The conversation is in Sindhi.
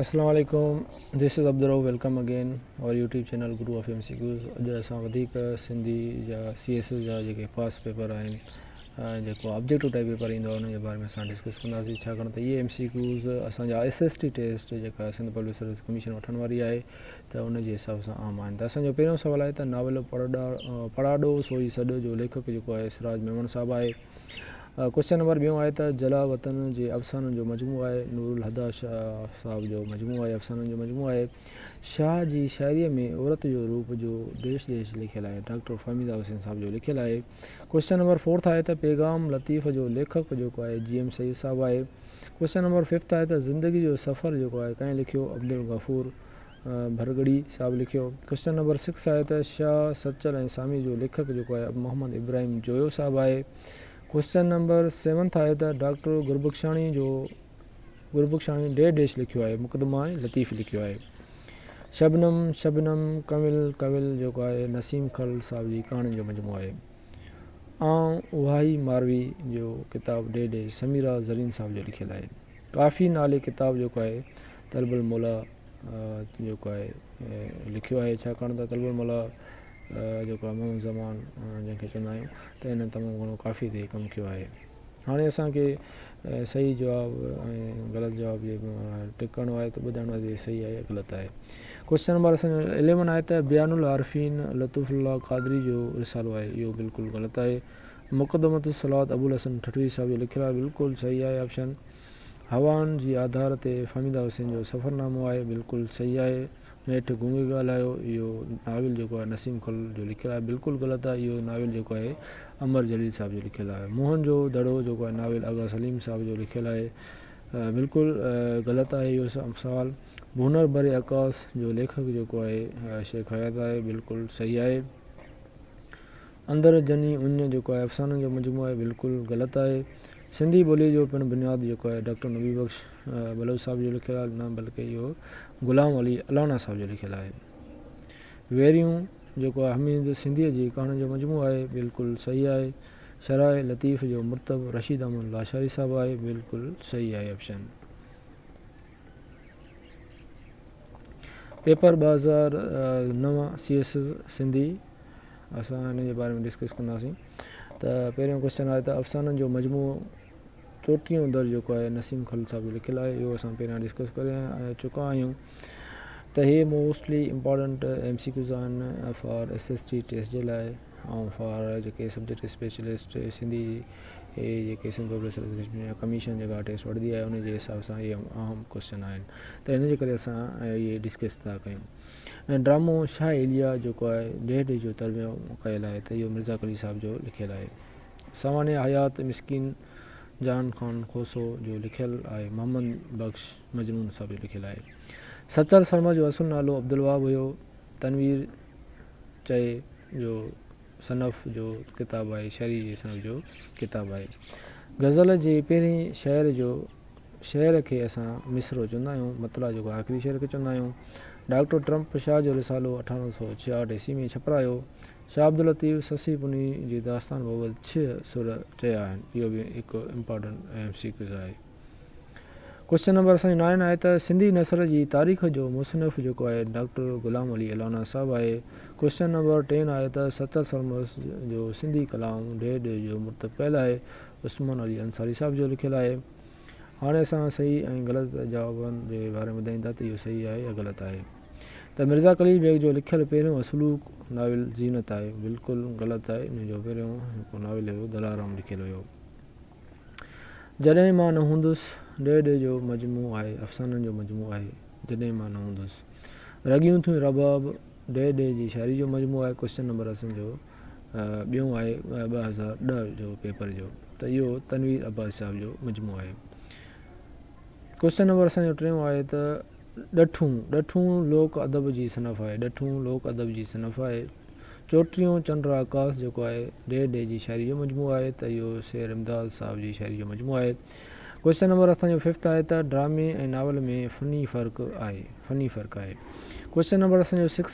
اسلام عليڪم this is Abdul Rauf welcome again our YouTube channel Guru of M C Qs اڄ اسان وڌيڪ سنڌي جا سي ايس ايس جا جيڪي پاس پيپر آهن جيڪو آبجيڪٽو ٽائپ پيپر ايندو آهي ان جي باري ۾ اسان ڊسڪس ڪنداسين ڇاڪاڻ ته اهي ايم سي ڪيوز اسان جا ايس ايس ٽي ٽيسٽ جيڪا سنڌ پبلڪ سروس ڪميشن وٺڻ واري آهي ته ان جي حساب سان عام آهن ته اسان جو پهريون سوال آهي ته ناول پڙاڏو سوئي سڏ جو ليکڪ جيڪو آهي سراج ميمڻ صاحب آهي ڪوشچن نمبر ٻيون آهي ته جلا وطن جي افسانن جو مجموعو آهي نور الهديٰ شاهه صاحب جو مجموعو آهي افسانن جو مجموعو آهي شاهه جي شاعريء ۾ عورت جو روپ جو ديش ديش لکيل آهي ڊاڪٽر فهميده حسين صاحب جو لکيل آهي ڪوشچن نمبر فورٿ آهي ته پيغام لطيف جو ليکڪ جيڪو آهي جي ايم سيد صاحب آهي ڪوشچن نمبر ففٿ آهي ته زندگي جو سفر جيڪو آهي ڪنهن لکيو عبدالغفور ڀرڳڙي صاحب لکيو ڪوشچن نمبر سڪس آهي ته شاهه سچل ۽ سامي جو ليکڪ جيڪو آهي محمد ابراهيم جويو صاحب آهي ڪوئسچن نمبر سيونٿ آهي ته ڊاڪٽر گربخشاڻي جو گربخشاڻي ڊير ڊيش لکيو آهي مقدمه ۽ لطيف لکيو آهي شبنم شبنم ڪنول ڪنول جيڪو آهي نسيم خل صاحب جي ڪهاڻين جو مجموعو آهي آئون اهائي ماروي جو ڪتاب ڊير ڊيش سميرا زرين صاحب جو لکيل آهي ڪافي نالي ڪتاب جيڪو آهي طلب المولا جيڪو آهي لکيو آهي ڇاڪاڻ ته طلب المولا جيڪو آهي منهن زبان جنهن کي چوندا آهيون ته هن تمام گهڻو ڪافيء تي ڪم ڪيو آهي هاڻي اسان کي صحيح جواب ۽ غلط جواب جي ٽڪ ڪرڻو آهي ته ٻڌائڻو آهي ته هي صحيح آهي يا غلط آهي ڪوشچن نمبر اسان جو اليون آهي ته بيان العارفين لطف الله قادري جو رسالو آهي اهو بلڪل غلط آهي مقدمت الصلات ابو الحسن ٺٽوي صاحب جو لکيل آهي بلڪل صحيح آهي آپشن هوائن جي آڌار تي فهميده حسين جو سفرنامو آهي بلڪل صحيح آهي نيٺ گونگي ڳالهايو، اهو ناول جيڪو آهي نسيم خل جو لکيل آهي بلڪل غلط آهي، اهو ناول جيڪو آهي امر جليل صاحب جو لکيل آهي. موهن جو دڙو جيڪو آهي ناول آغا سليم صاحب جو لکيل آهي، بلڪل غلط آهي اهو سوال. ڀونر بري عڪاس جو ليکڪ جيڪو آهي شيخ حيات آهي، بلڪل صحيح آهي. اندر جني اڃ جيڪو آهي افسانن جو مجموعو آهي، بلڪل غلط آهي. سنڌي ٻولي جو پڻ بنياد جيڪو آهي ڊاڪٽر نبي بخش. بلوچ صاحب جو لکيل آهي نه بلڪه اهو غلام علي الانا صاحب جو لکيل آهي ويريون جيڪو آهي حميد سنڌيء جي ڪهاڻين جو مجموعو آهي بلڪل صحيح آهي شرح لطيف جو مرتب رشيد احمد لاشاري صاحب آهي بلڪل صحيح آهي آپشن پيپر ٻه هزار نو سي ايس ايس سنڌي اسان ان جي باري ۾ ڊسڪس ڪنداسين ته پهريون ڪوشچن آهي ته افسانن جو مجموعو چوٽيهون در جيڪو آهي نسيم خليل صاحب جو لکيل آهي اهو اسان پهريان ڊسڪس ڪري چڪا آهيون ته هي mostly important M C Qs آهن for S S T test جي لاء ۽ فار جيڪي سبجيڪٽ اسپيشلسٽ سنڌي اي جيڪي سنڌ پروفيسر ايسوسيشن يا ڪميشن جيڪا ٽيسٽ وٺندي آهي ان جي حساب سان اهي اهم ڪويشچن آهن ته ان جي ڪري اسان اهي ڊسڪس ٿا ڪيون ۽ ڊرامو شاهه اليا جيڪو آهي ڊيهه ڊيهه جو ترجمو ڪيل آهي ته اهو مرزا قلي صاحب جو لکيل آهي سواڻي حيات مسڪين جان خان کوسو جو لکيل آهي محمد بخش مجنون صاحب جو لکيل آهي سچل شرما جو اصل نالو عبدالواب هيو تنوير چئي جو صنف جو ڪتاب آهي شعري جي صنف جو ڪتاب آهي غزل جي پهرين شعر جو شعر کي اسان مصرو چوندا آهيون مطلع جو آخري شعر کي چوندا آهيون ڊاڪٽر ٽرمپ شاهه جو رسالو اٺارهن سو ڇهاهٺ عيسوي ۾ ڇپرايو شاهه عبداللطيف سسي پني جي داستان بابت ڇهه سر چيا آهن اهو به هڪ امپارٽنٽ ايم سي ڪيوز آهي ڪوشچن نمبر اسان جو نائن آهي ته سنڌي نثر جي تاريخ جو مصنف جيڪو آهي ڊاڪٽر غلام علي الانا صاحب آهي ڪوشچن نمبر ٽين آهي ته ستر سرمس جو سنڌي ڪلام ڊيهه ڊيهه جو مرتب پيل آهي عثمان علي انصاري صاحب جو لکيل آهي هاڻي اسان صحيح ۽ غلط جوابن جي باري ۾ ٻڌائيندا ته اهو صحيح آهي يا غلط آهي ته مرزا خليل بيگ جو لکيل پهريون اصلوڪ ناول زينت آهي، بلڪل غلط آهي، ان جو پهريون هڪ ناول هيو دلارام لکيل هيو. جڏهن مان نه هوندس، ڊي ڊي جو مجموعو آهي، افسانن جو مجموعو آهي، جڏهن مان نه هوندس. رڳيون ٿيون رباب، ڊي ڊي جي شاعري جو مجموعو آهي، ڪوشچن نمبر اسين جو ٻيون آهي ٻه هزار ڏهه جو پيپر جو ته اهو تنوير عباس صاحب جو مجموعو آهي. ڪوشچن نمبر اسان جو ٽيون آهي ته ڏٺون، ڏٺون لوڪ ادب جي صنف آهي، ڏٺون لوڪ ادب جي صنف آهي. چوٽيون چنڊ آڪاس جيڪو آهي، ڊي ڊي جي شاعري جو مجموعو آهي ته اهو شير امداد صاحب جي شاعري جو مجموعو آهي. ڪوشچن نمبر اسان جو ففٿ آهي ته ڊرامي ۽ ناول ۾ فني فرق آهي، فني فرق آهي. ڪوشچن نمبر اسان جو سڪس.